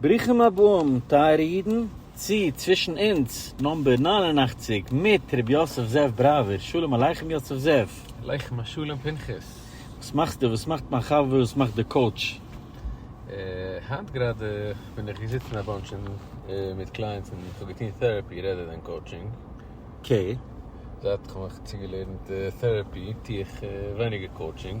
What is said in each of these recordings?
ברוכים הבאים טייערע אידן צו צווישן אונז נאמבער נײַן און אַכציק מיט ר' יוסף זאב בראווער, שלום עליכם יוסף זאב. עליכם השלום פנחס. וואס מאכסטו? וואס מאכט מיין חבר? וואס מאכט די קאוטש? היינט גראדע בין איך געזיצן א באנטש מיט קלייענטס און כ'האב געטון טעראפי רעדער דען קאוטשינג. קעי. זייט כ'האב מיך צוגעלערנט טעראפי טו איך ווייניגער קאוטשינג.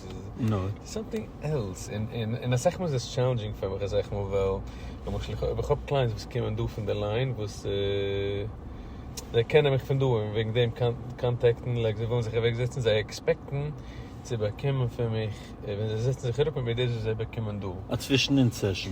נאר סאמטינג עלס, און אסאך מאל איז עס טשעלענדזשינג פאר מיך אזעלכע מאל, ווייל למשל אויב איך האב קלייענטס וואס קומען דא פון די ליין וואס זיי קענען מיך פון דא און וועגן דעם קאנטעקטן לייק זיי ווילן זיך אוועק זעצן און זיי עקספעקטן צו באקומען פון מיך ווען זיי זעצן זיך אראפ מיט מיר דאס וואס זיי באקומען דא. א צווישן אונז סעשאן.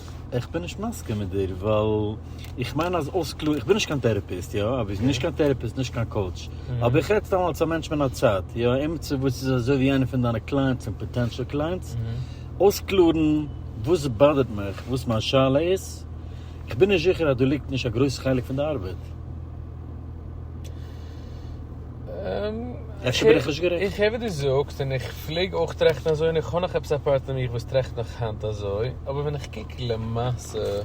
איך בין נישט מסכים מיט דיר ווייל איך מיין אז אויסקלארן, איך בין נישט קיין טערעפיסט יא, אבער נישט קיין טערעפיסט נישט קיין קאוטש, אבער איך רעד סתם אלס א מענטש מן הצד יא, עמיצער וואס איז אזוי ווי איינער פון דיינע קלייענטס און פאטענשעל קלייענטס, אויסקלארן וואס באדערט מיך, וואס מיין שאלה איז, איך בין נישט זיכער אז דא ליגט נישט א גרויס חלק פון די ארבעט. אפשר בין איך נישט גערעכט. איך הער וואס דו זאגסט און איך פלעג אויך טראכטן אזוי און איך האב נאך עפעס א פארט אין מיך וואס טראכט נאך היינט אזוי, אבער ווען איך קוק למעשה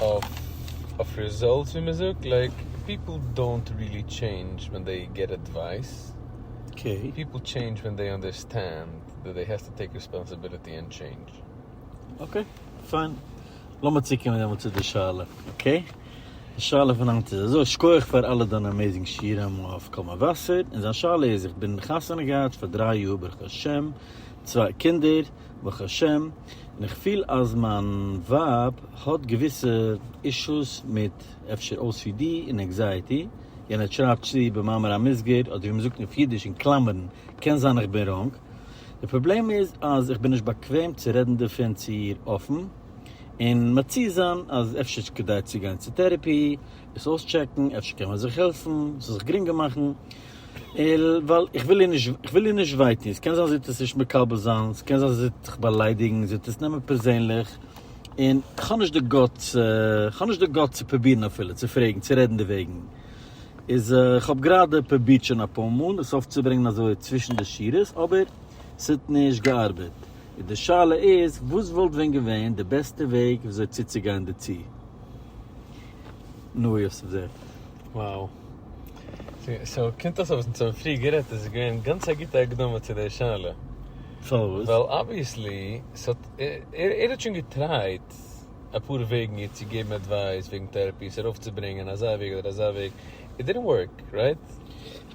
אויף רעזאלטס ווי מען זאגט לייק פיפל דאונט רילי טשעינדזש ווען דעי געט עדווייס, פיפל טשעינדזש ווען דעי אנדערסטענד דעט דעי העסטו טעיק רעספאנסיביליטי ענד טשעינדזש. אקעי, פיין. לאמיר צוקומען דעמאלט צו די שאלה, אקעי? די שאלה פון היינט איז אזוי, שכוח פאר אלע דיינע אמעיזינג שיעורים אויף קול מבשר, און זיין שאלה איז, איך בין חתונה געהאט פאר דריי יאר ברוך השם, צוויי קינדער ברוך השם, און איך פיל אז מיין ווייב האט געוויסע אישוס מיט אפשר ocd און ענקזייעטי, יענער שרייבט צו במאמר המוסגר, אדער ווי מ'זאגט אויף אידיש אין קלאמערן, קען זיין איך בין ראנג, די פראבלעם איז אז איך בין נישט באקוועם צו רעדן דערפון צו איר אפן, און מציע זיין אז אפשר איז כדאי צו גיין צו טערעפי, עס אויסטשעקן, אפשר קען מען זיך העלפן, ס'זאל זיך גרינגער מאכן, ווייל איך וויל איר נישט וויי טון, ס'קען זיין זי וועט עס נישט מקבל זיין, ס'קען זיין זי וועט זיך באליידיגן, זי וועט עס נעמען פערזענליך, און כ'האב נישט די גאטס צו פרובירן אפילו צו פרעגן, צו רעדן דערוועגן, איז איך האב גראדע פרובירט שוין אפאר מאל עס אויפצוברענגן אזוי צווישן די שורות אבער עס האט נישט געארבעט, איז די שאלה איז וואס וואלט ווען געווען די בעסטע וועג וויאזוי צוצוגיין דערצו? נא יוסף זעט. Wow. סאו קומט אויס אז וואס אונז האבן פריער גערעדט איז געווען גאנץ א גוטע הקדמה צו די שאלה. פארוואס? ווייל אבוויעסלי ס'האט ער ער האט שוין געטרייט. אפאר וועגן איר צו געבן עדווייס וועגן טעראפי, עס ארויפצוברענגען אזא וועג אדער אזא וועג, איט דידנט ווארק, רייט?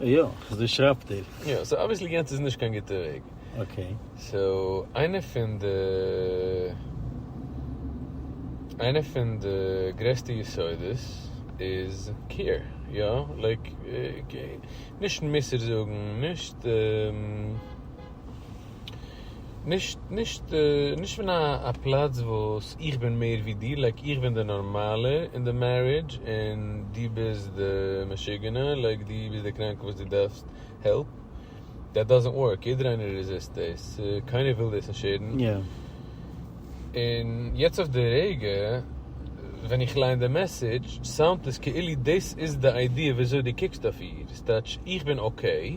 יא, אזוי שרייבט איר. יא, סאו אבוויעסלי יענץ איז נישט קיין גוטע וועג. אקעי. סאו איינע פון די איינע פון די גרעסטע יסודות איז קעיר, יא, לייק נישט מוסר זאגן, נישט. נישט נישט נישט פון א פלאץ וואס איך בין מער ווי דיר לייק איך בין די נארמאלע אין די מערידזש און דו ביסט די משוגענע לייק דו ביסט די קראנקע וואס דו דארפסט העלפ דעט דאזענט ווארק יעדער איינער רעזיסט דאס קיינער וויל דאס נישט הערן און יעצט אויף די רגע ווען איך ליין די מעסעדזש סאונדט עס כאילו דאס איז די איידיע ווי אזוי דו קוקסט אויף איר ס'טייטש איך בין אקעי.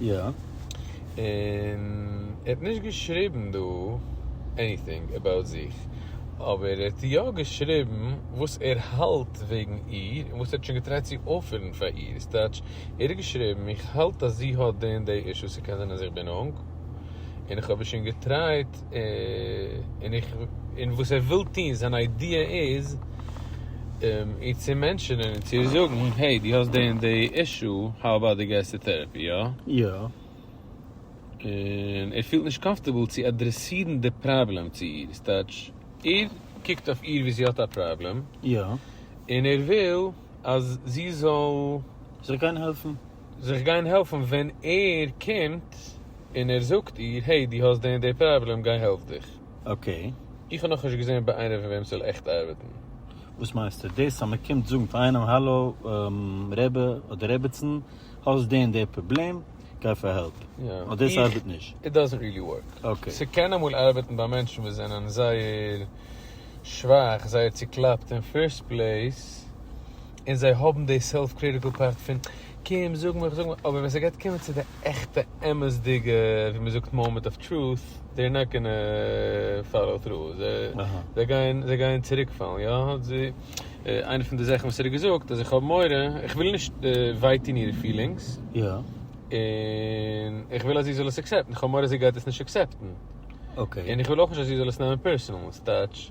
יא, און ער האט נישט געשריבן דא עניטינג אבאוט זיך, אבער ער האט יא געשריבן וואס ער האלט וועגן איר און וואס ער האט שוין געטרייט צו אויפערן פאר איר, ס'טייטש ער האט געשריבן איך האלט אז זי האט די און די אישוס, ס'קען זיין אז איך בין אונג און איך האב איר שוין געטרייט. און איך און וואס ער וויל טוהן זיין איידיע איז איר צו מענטשענען און צו איר זאגן העי דו האסט די און די אישו האו אבאוט דו גייסט צו טערעפי יא? יא. און ער פילט נישט קאמפטערבל צו אדרעסירן די פראבלעם צו איר איז טייטש ער קוקט אויף איר ווי זי האט א פראבלעם יא. און ער וויל אז זי זאל. זיך גיין העלפן. זיך גיין העלפן ווען ער קומט און ער זאגט איר העי דו האסט די און די פראבלעם גיי העלף דיך. אקעי. איך האב נאכנישט געזען ביי איינער פון וועם ס'זאל עכט ארבעטן. וואס מיינסטו? דאס אז מען קומט זאגן פאר איינעם האלא רבי אדער רביצן האסט די און די פראבלעם גיי פאר העלפ. אט דאס ארבעט נישט. איט דאזענט ריעלי ווארק. ס'קען אמאל ארבעטן ביי מענטשן וואס זענען זייער שוואך, זייער צוקלאפט אין פירסט פלעיס. און זיי האבן די סעלף קריטיקל פארט פון קום זאג מיך זאג מיך, אבער ווען ס'גייט קומען צו די עכטע אמת'דיגע ווי מ'זאגט מאמענט אוו טרוט, דעיר נאט גאנע פאלאו טרו, זיי גייען זיי גייען צוריקפאלן, יא איינע פון די זאכן וואס ער האט געזאגט אז איך האב מורא, איך וויל נישט וויי טון אירע פילינגס, און איך וויל אז זי זאל עס עקסעפטן, איך האב מורא זי גייט עס נישט עקסעפטן, און איך וויל אויך נישט אז זי זאל עס נעמען פערסענאל, ס'טייטש.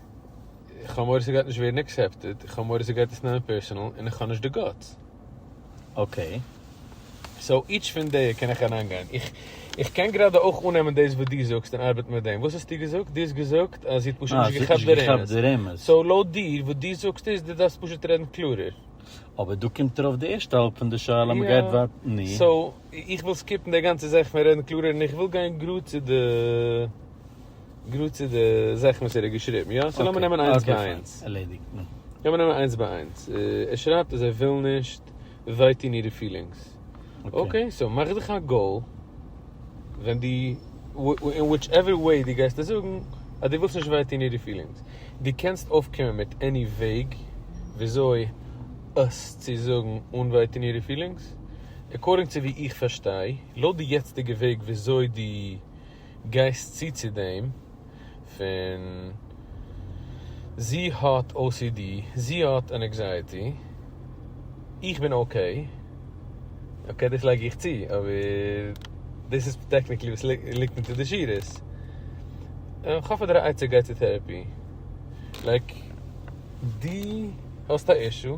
איך האב מורא ס'גייט נישט ווערן עקסעפטעד, איך האב מורא ס'גייט עס נעמען פערסענעל, און איך האב נישט די גאטס. אקעי. סאו איטש פון די קען איך אריינגיין. איך קען גראדע אויך אננעמען דאס וואס דו זאגסט און ארבעטן מיט דעם. וואס האסטו געזאגט? דו האסט געזאגט אז זי האט פשוט נישט געכאפט די רמז. די רמז. סאו לויט דיר, וואס דו זאגסט איז, דו דארפסט פשוט רעדן קלארער. אבער דא קומט ארויף די ערשטע האלב פון די שאלה, מ'גייט ווייט. נו? סאו איך וויל סקיפן די גאנצע זאך פון רעדן קלארער און איך וויל גיין גראד צו די. גראד צו די זאכן וואס ער האט געשריבן, יא? סאו לאמיר נעמען איינס ביי איינס. לאמיר נעמען איינס ביי איינס. ער שרייבט אז ער וויל נישט ווייטון אירע פילינגס. אקעי, סאו מאך זיך א גאול ווען די, אין וויטש עווער וועי די גייסט עס זאגן, אז די ווילסט נישט ווייטון אירע פילינגס. די קענסט אויפקומען מיט עני וועג וויאזוי עס צו זאגן אן ווייטון אירע פילינגס. עקארדינג צו ווי איך פארשטיי, לויט די יעצטיגע וועג וויאזוי די. גייסט צו צו דעם פון זי האט ocd, זי האט ענעקזייעטי, איך בין אקעי, אקעי דאס לייג איך צו, אבער דאס איז טעקניקלי וואס ליגט אונטער די שורות. איך האף אז דער עצה גייט צו טעראפי. לייק דו האסט א אישו.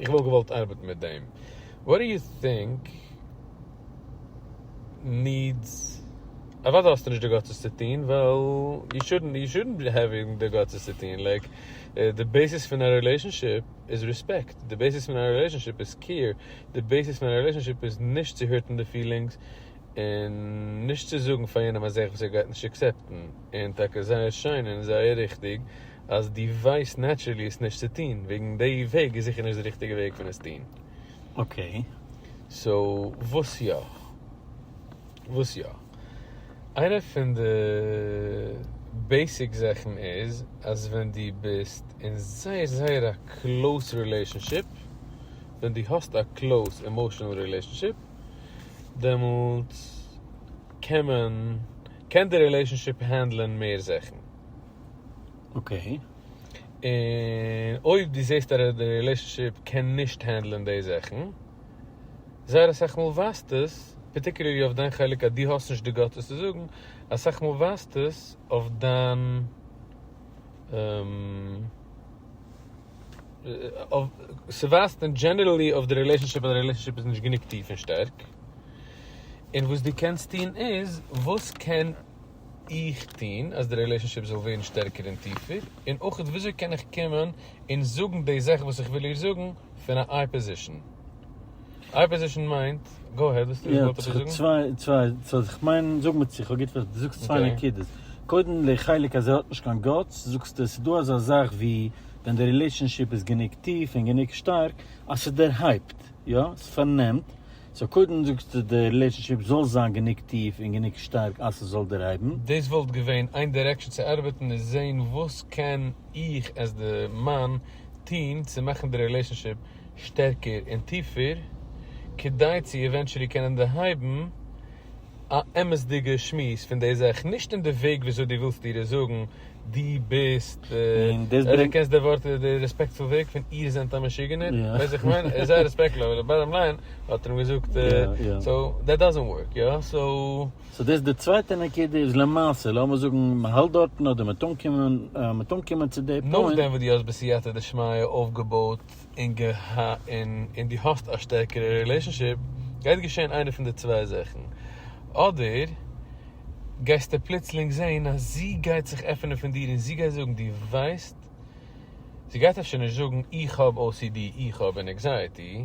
איך וואלט געוואלט ארבעטן מיט דעם. וואט דו יו טינק נידס אוודאי האסטו נישט די גאטס עס צו טוהן ווייל יו שודנט יו שודנט העווינג די גאטס עס צו טוהן לייק די בעיסיס פון א רילעישאנשיפ איז ריספעקט די בעיסיס פון א רילעישאנשיפ איז קעיר די בעיסיס פון א רילעישאנשיפ איז נישט צו הירטן די פילינגס און נישט צו זאגן פאר יענעם א זאך וואס ער גייט נישט עקסעפטן. און טאקע זייער שיין און זייער ריכטיג אז דו ווייסט נעטשערלי עס נישט צו טון, וועגן די וועג איז זיכער נישט די ריכטיגע וועג פון עס טון. אקעי. סאו וואס יא? וואס יא? איינע פון די בעיסיק זאכן איז אז ווען דו ביסט אין זייער זייער א קלאוס רילעישאנשיפ, ווען דו האסט א קלאוס עמאשענעל רילעישאנשיפ, דעמאלטס קען מען קען די רילעישאנשיפ הענדלען מער זאכן. אקעי. און אויב דו זעסט אז די רילעישאנשיפ קען נישט הענדלען די זאכן, זייער אסאך מאל ווייזט עס, פארטיקולערלי אויף דיין חלק אז דו האסט נישט די גאטס עס צו זאגן, אסאך מאל ווייזט עס אויף דיין. ס'ווייזט אין דזשענערעלי אויף די רילעישאנשיפ אז די רילעישאנשיפ איז נישט גענוג טיף און שטארק, און וואס דו קענסט טון איז, וואס קען איך טון אז די רילעישאנשיפ זאל ווערן שטערקער און טיפער, און אויך וויאזוי קען איך קומען און זאגן די זאך וואס איך וויל איר זאגן פון א איי פאזישאן. איי פאזישן מיינט, גאו העד, וואס ווילסטו זאל איך זאגן? צוויי, צוויי, איך מיין, זאג מיר צו איך האב גוט פארשטאנען, דו זאגסט צוויי נקודות, קודם די חלק אז ער האט נישט קיין גאטס, זאגסטו עס איז דא אזא זאך ווי ווען די רילעישאנשיפ איז גענוג טיף און גענוג שטארק אז ס'דערהייבט, יא? ס'פארנעמט, סאו קודם זאגסטו די רילעישאנשיפ זאל זיין גענוג טיף און גענוג שטארק אז ס'זאל דערהייבן. דאס וואלט געווען איין דירעקשאן צו ארבעטן איז זעהן וואס קען איך עז די מאן טוהן צו מאכן די רילעישאנשיפ שטערקער און טיפער, כדי צו עווענטשעלי קענען דערהייבן א אמת'דיגע שמועס פון די זאך, נישט אין די וועג וויאזוי דו ווילסט איר עס זאגן, דו ביסט, אויב דו קענסט די ווארט, די רעספעקטפול וועג פון איר זענט א משוגענער, ווייסט וואס איך מיין? ער איז זייער רעספעקטפול אבער די באטטאם ליין האט ער אים געזאגט, סאו דעט דאזענט ווארק, יא? סאו. סאו דאס איז די צווייטע נקודה איז למעשה לאמיר זאגן מען האלט דארטן אדער מען טאר מען אנקומען צו די פוינט. נאכדעם וואס דו האסט בסייעתא דשמיא אויפגעבויט און און דו האסט א שטערקערע רילעישאנשיפ גייט געשען איינע פון די צוויי זאכן אדער גייסטו פלוצלינג זעהן אז זי גייט זיך עפענען פון דיר און זי גייט זאגן דו ווייסט זי גייט אפשר נישט זאגן איך האב ocd איך האב ענעקזייעטי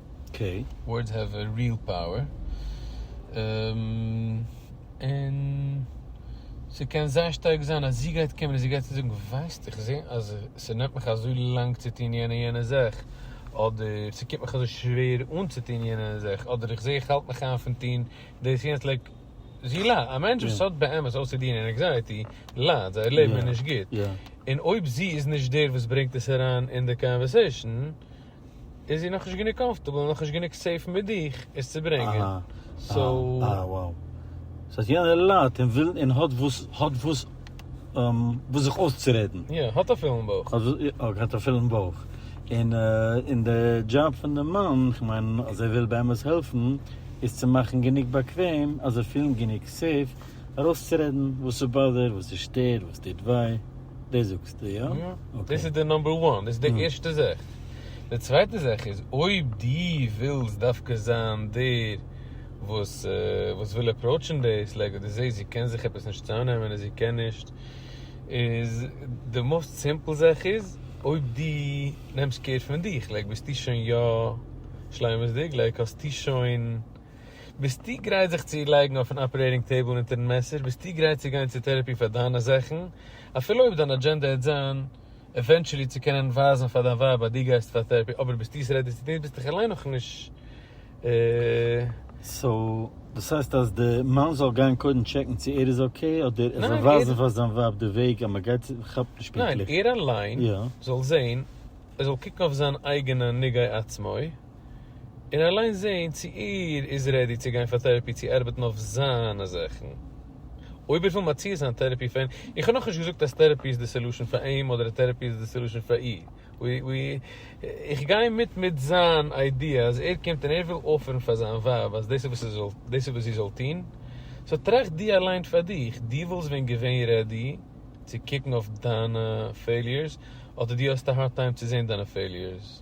אקעי. ווארדס העוו א ריעל פאוער. און ס'קען זייער שטארק זיין אז זי גייט קומען און זי גייט צו זאגן ווייסט איך זע אז ס'נעמט מיך אזוי לאנג צו טון יענע יענע זאך, אדער ס'קומט מיך אזוי שווער אן צו טון יענע יענע זאך, אדער איך זע איך האלט מיך איין פון טון דאס יענץ לייק זי ל א מענטש וואס האט באמת או סי די און ענעקזייעטי ליידט, זייער לעבן איז נישט גוט, און אויב זי איז נישט דער וואס ברענגט עס אריין אין די קאנווערסעישן איז זי נאכנישט גענוג קאמפארטעבל און נאכנישט גענוג סעיף מיט דיך עס צו ברענגען, סאו. סאיז האט יענער ליידט און וויל און האט וואס האט וואס וואס זיך אויסצורעדן. יא, האט א פולן בויך. אויך האט א פולן בויך. און און די דזשאב פון די מאן, כ'מיין אז ער וויל באמת העלפן, איז צו מאכן גענוג באקוועם אז זיי פילן גענוג סעיף ארויסצורעדן וואס עס באדערט, וואס עס שטערט, וואס טוט וויי. דאס זאגסטו יא? יא. אקעי. דאס איז די נאמבער וואן, דאס איז די ערשטע זאך. די צווייטע זאך איז, אויב דו ווילסט דווקא זיין דער וואס וואס וויל אפראוטשן דאס, לייק ווען דו זעסט זי קען זיך עפעס נישט צאמנעמען און זי קען נישט, איז די מאוסט סימפל זאך איז, אויב דו נעמסט קעיר פון דיך, לייק ביסטו שוין יא שלימות'דיג, לייק האסטו שוין. ביסטו גרייט זיך צו לייגן אויפן אפערעיטינג טעיבל אונטערן מעסער? ביסטו גרייט צו גיין צו טערעפי פאר דיינע זאכן? אפילו אויב דיין אדזשענדע העט זיין עווענטשעלי צו קענען ווייזן פאר דיין ווייב אז דו גייסט פאר טערעפי אבער ביסטו עס רעדי צו טון ביסט דיך אליין נאכנישט. סאו דאס הייסט אז די מאן זאל גיין קודם טשעקן צו ער איז אקעי אדער ער זאל ווייזן פאר זיין ווייב די וועג אז מ'גייט צו כ'כאפ נישט פונקטליך. ניין ער אליין זאל זעהן ער זאל קוקן אויף זיין אייגענע נגעי עצמו. און אליין זעהן צו ער איז רעדי צו גיין פאר טערעפי צו ארבעטן אויף זיינע זאכן אויב ער וויל מציע זיין טערעפי פאר אים, איך האב נאכנישט געזאגט אז טערעפי איז די סעלושען פאר אים אדער אז טערעפי איז די סעלושען פאר איר, איך גיי מיט מיט זיין איידיע אז ער קומט און ער וויל אפערן פאר זיין ווייב אז דאס איז וואס זי זאל טון, סאו טראכט דו אליין פאר דיך, דו וואלסט ווען געווען רעדי צו קוקן אויף דיינע פעיליערס אדער דו האסט א הארד טיים צו זעהן דיינע פעיליערס?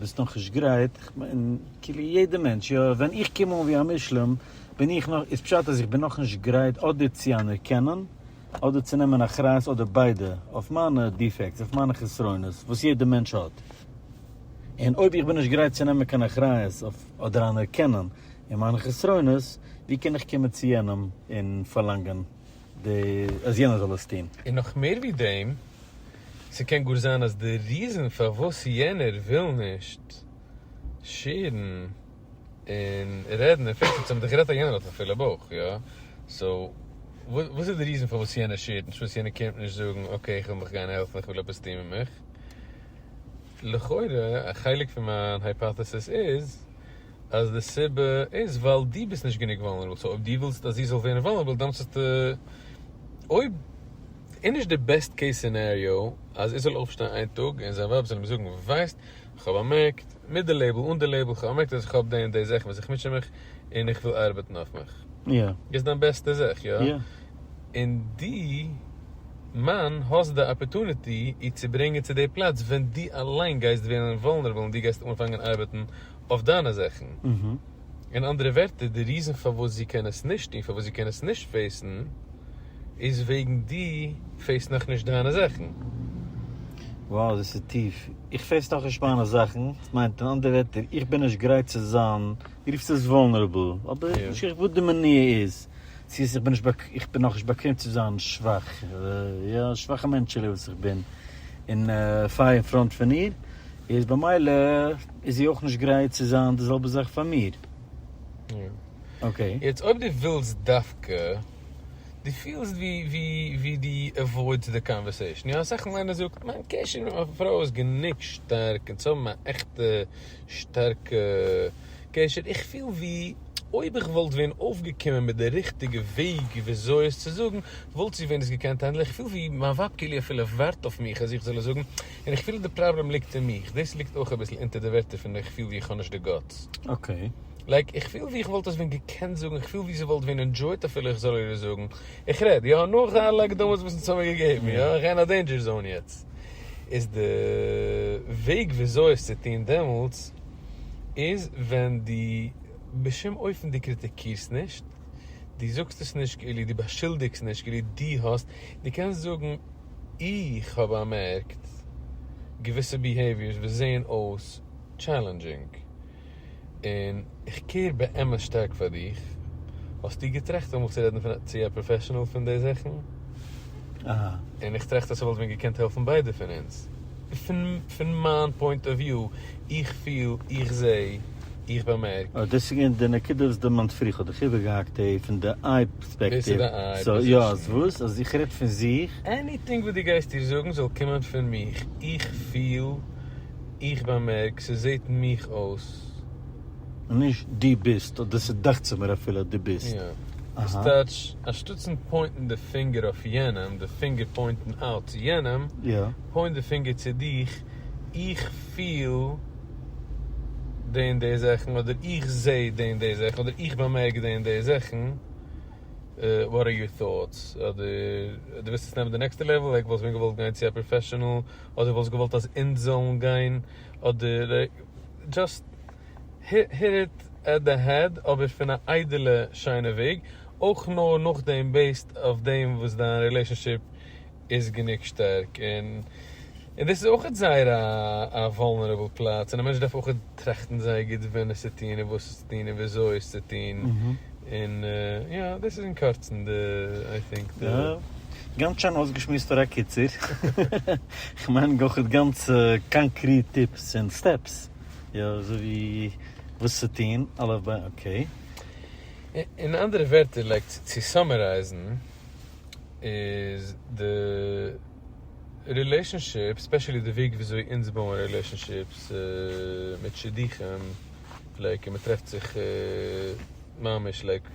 ביסט נאכנישט גרייט? איך מיין כאילו יעדע מענטש, יא ווען איך קום אן ווי א מושלם בין איך נאך, איז פשט אז איך בין נאכנישט גרייט אדער צו אנערקענען אדער צו נעמען אחריות אדער ביידע אויף מיינע דיפעקטס אויף מיינע חסרונות וואס יעדע מענטש האט און אויב איך בין נישט גרייט צו נעמען קיין אחריות אויף אדער אנערקענען אין מיינע חסרונות ווי קען איך קומען צו יענעם און פארלאנגען די אז יענער זאל עס טוהן. און נאך מער ווי דעם, ס'קען גאר זיין אז די ריזען פארוואס יענער וויל נישט שעירן און רעדן און פיקסן צום דיך רעדט אז יענער האט א פילע בויך יא סאו וואס איז די ריזען פארוואס יענער שעירט נישט פארוואס יענער קומט נישט זאגן אקעי איך וויל מיך גיין העלפן איך וויל עפעס טוהן מיט מיך לכאורה א חלק פון מיין הייפאטעסיס איז. אז די סיבה איז ווייל דו ביסט נישט גענוג וואלנערבל, סאו אויב דו ווילסט אז זי זאל ווערן וואלנערבל דאן מוזטו, אויב איז נישט די בעסט קעיס סינעריאו אז ער זאל אויפשטיין איין טאג און זיין ווייב זאל אים זאגן ווייסט כ'האב באמערקט, מיט די לעיבל אן די לעיבל, כ'האב באמערקט אז איך האב די און די זאכן וואס איך מוטשע מיך און איך וויל ארבעטן אויף מיך. איז דיין בעסטע זאך, יא? און דו מאן האסט די אפערטוניטי איר צו ברענגען צו די פלאץ ווען דו אליין גייסט ווערן וואלנערבל און דו גייסט אנפאנגען ארבעטן אויף דיינע זאכן. אין אנדערע ווערטער, די ריזען פארוואס זי קען עס נישט טון, פארוואס זי קען עס נישט פעיסן, איז וועגן דו פעיסט נאכנישט דיינע זאכן. Wow דאס איז טיף. איך פעיס נאכנישט מיינע זאכן מיינט אין אנדערע ווערטער איך בין נישט גרייט צו זיין, דו רופסט עס וואלנערעבל, אבער איך בין נישט גרייט וואס די מניעה איז, צו עס איך בין נישט איך בין נאכנישט באקוועם צו זיין שוואך, יא שוואכע מענטשעלע וואס איך בין, און פייער אין פראנט פון איר, איז במילא איז זי אויך נישט גרייט צו זיין די זעלבע זאך פאר מיר. אקעי. יעצט אויב דו ווילסט דווקא, דו פילסט ווי דו עוואוידסט די קאנווערסעישן, יא אסאך מאל איינער זאגט מיין קשר מיט מיין פרוי איז גענוג שטארק אונז האבן א עכטע שטארקע קשר, איך פיל ווי אויב איך וואלט ווען אויפגעקומען מיט די ריכטיגע וועג וויאזוי עס צו זאגן וואלט זי ווען עס געקענט האנדלען, איך פיל ווי מיין ווייב כאילו אפילו ווארט אויף מיך אז איך זאל עס זאגן, און איך פיל די פראבלעם ליגט אין מיך, דאס ליגט אויך אביסל אונטער די ווערטער פון איך פיל ווי איך האב נישט די גאטס. אקעי. לייק איך פיל ווי איך וואלט עס ווען געקענט זאגן, איך פיל ווי זי וואלט ווען ענדזשויט אפילו איך זאל איר עס זאגן, איך רעד יא נאך אלע הקדמות וואס אונז האמיר געגעבן, יא איך גיי אין א דעינדזשער זאון יעצט, איז די וועג וויאזוי עס צו טון דעמאלטס איז ווען דו בשום אופן דו קריטיקירסט נישט, דו זאגסט עס נישט כאילו, דו באשולדיגסט נישט כאילו דו האסט, דו קענסט זאגן. איך האב באמערקט געוויסע ביהעיוויערס וואס זעהן אויס טשעלענדזשינג, און איך קעיר באמת שטארק פאר דיך, האסטו געטראכט אמאל צו רעדן צו א פראפעשענעל פון די זאכן? און איך טראכט אז ס'וואלט מיר געקענט העלפן ביידע פון אונז, פון מיין פוינט אוו וויו, איך פיל, איך זעה, איך באמערק. אוי דאס איז געווען די נקודה וואס די מאנספרי, כ'האב דיך איבערגעהאקט, די פון די. פערספעקטיוו, סאו יא, אז וואס? אז איך רעד פון זיך? עניטינג וואס דו גייסט איר זאגן זאל קומען פון מיך, איך פיל, איך באמערק, ס'זעט מיך אויס. און נישט דו ביסט, אדער ס'דאכט זיך מיר אפילו אז דו ביסט. יא. וואס טייטש, אנשטאטסן פוינטן די פינגער אויף יענעם, די פינגער פוינטן אלץ צו יענעם, פוינט די פינגער צו דיך, איך פיל. די און די זאכן, אדער איך זע די און די זאכן, אדער איך באמערק די און די זאכן, וואט אר יור טאטס? אדער דו ווילסט עס נעמען די נעקסטע לעוועל, לייק וואלסט ווען געוואלט גיין צו א פראפעשענעל, אדער וואלסט געוואלט אז אונז זאלן גיין, אדער דזשאסט היט איט עט די העד, אבער פון א איידעלע שיינע וועג, אויך נאר נאכדעם בעיסד אויף דעם וואס דיין רילעישאנשיפ. איז גענוג שטארק און און דאס איז אויכעט זייער א א וואלנערעבל פלאץ און א מענטש דארף אויכעט טראכטן זייער גוט ווען עס צו טון און וואס עס צו טון און וויאזוי עס צו טון און יא דאס איז אין קורצן די איי טינק די. גאנץ שיין אויסגעשמועסט פאר א קיצור, כ'מיין אויכעט גאנץ קאנקריט טיפס און סטעפס וויאזוי וואס צו טון אלף ביי אקעי. אין אנדערע ווערטער לייק צו סאמערייזן. איז די רילעישאנשיפ ספעשעלי די וועג וויאזוי אונז בויען רילעישאנשיפס מיט שידוכים לייק מען טרעפט זיך ממש לייק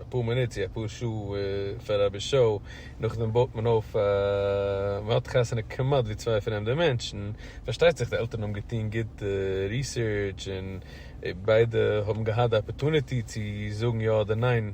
אפאר מינוט צו אפאר שעה פאר רבע שעה און נאכדעם בויט מען אויף א מען האט חתונה כמעט ווי צוויי פרעמדע מענטשן פארשטייט זיך די עלטערן האבן געטון גוט ריסערטש און ביידע האבן געהאט די אפערטוניטי צו זאגן יא אדער ניין.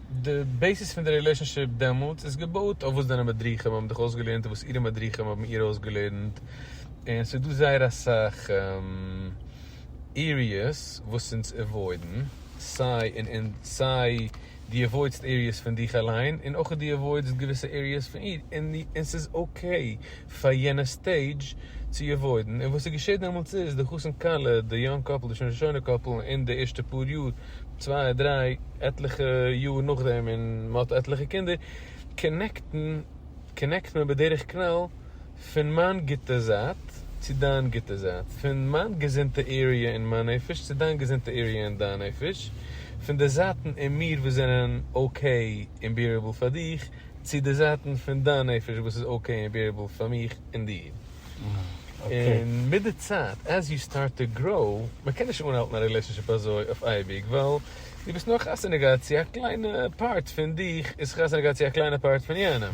די בעיסיס פון די רילעישאנשיפ דעמאלטס איז געבויט אויף וואס דיינע מדריכים האבן דיך אויסגעלערנט און וואס אירע מדריכים האבן איר אויסגעלערנט, און ס'איז דא זייער אסאך עריעס וואס אונז עוואוידן, סיי אין אונ. סיי דו עוואוידסט עריעס פון דיך אליין און אויך דו עוואוידסט געוויסע עריעס פון איר, און ס'איז אקעי פאר יענע סטעידזש צו עוואוידן, און וואס איז געשעט דעמאלטס איז, די חתן כלה, די יונג קאפל, די שוין שוינע קאפל, אין די ערשטע פאר יאר, צוויי דריי, עטליכע יאר נאכדעם, און מען האט עטליכע קינדער, קאנעקטן, קאנעקט מען בדרך כלל, פון מיין גוטע זייט צו דיין גוטע זייט, פון מיין געזונטע עריע אין מיין נפש צו דיין געזונטע עריע אין דיין נפש, פון די זייטן אין מיר וואס זענען אקעי און ביערעבל פאר דיך, צו די זייטן פון דיין נפש וואס איז אקעי און בעירעבל פאר מיך און דיר. און מיט די צייט עז יו סטארט טו גראו, מען קען נישט אנהאלטן א רילעישאנשיפ אזוי אויף אייביג ווייל דו ביסט נאר חתונה געהאט צו א קליינע פארט פון דיך איז חתונה געהאט צו א קליינע פארט פון יענעם.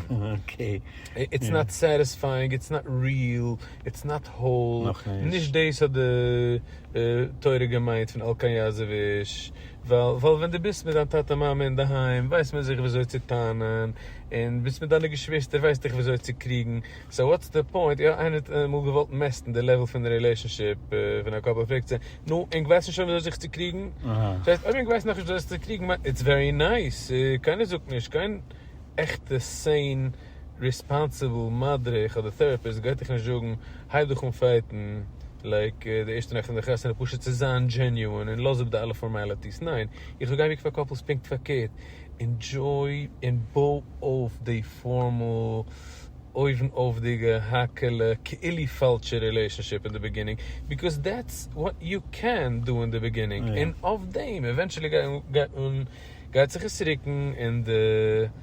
איטס נאט סעטיספייאינג, איטס נאט ריעל, איטס נאט האול, נישט דאס האט די תורה געמיינט פון על כן יעזוב איש. ווייל ווייל ווען דו ביסט מיט דיין טאטע מאמע אינדערהיים ווייסט מען זיך וויאזוי צו טענה'ן, און ביסט מיט דיינע געשוויסטער ווייסט דיך וויאזוי צו קריגן, סאו וואטס די פוינט, יא איינער האט אמאל געוואלט מעסטן די לעוול פון רילעישאנשיפ פון א קאפל פרעגט זיי, נו ענק ווייסן שוין וויאזוי זיך צו קריגן? דאס הייסט אויב ענק ווייסן נאכנישט וויאזוי זיך צו קריגן, איטס ווערי נייס, קיינער זאגט נישט קיין עכטע סען. ריספאנסיבל מדריך אדער טעראפיסט גייט דיך נישט זאגן הייב דיך אן פייטן לייק די ערשטע נאכט פון די חתונה פשוט צו זיין דזשעניוען און לאז אפ די אלע פארמעליטיס ניין איך זאג הייב דיך פאר קאפלס פונקט פארקערט ענדזשוי און בוי אויף די פארמאל אויבן אויפדיגע האקעלע כאילו פאלשע רילעישאנשיפ אין די ביגינינג ביקאוז דעטס וואט יו קען דא אין די ביגינינג און אויף דעם עווענטשעלי גייט זיך עס רוקן און די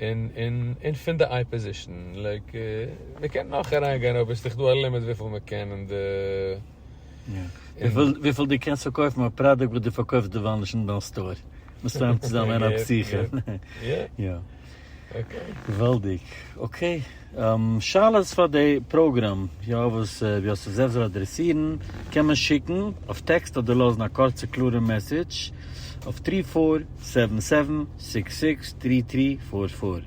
און פון די אייפאזישן, לייק, מען קען נאך אריינגיין אבער ס'איז דאך דא א לימיט וויפיל מען קען אין די. וויפיל דו קענסט פארקויפן א פראדוקט וואס דו פארקויפסט דערווייל נישט אין דיין סטאר, מסתם צו זיין אן א פסיכא. יא. אקעי. געוואלדיג. אקעי. שאלות פאר די פראגראם יא וואס ווי עס איז זעלבסט זאל אדרעסירן קען מען שיקן אויף טעקסט אדער לאזן א קורצע קלארע מעסעדזש אויף טרי פאר סעווען סעווען סיקס סיקס טרי טרי פאר פאר.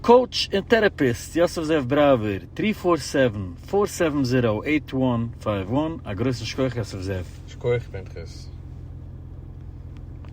קאוטש און טערעפיסט יוסף זאב בראווער טרי פאר סעווען פאר סעווען זירא עיט וואן פייוו וואן א גרויסן שכח יוסף זאב. שכוח פנחס.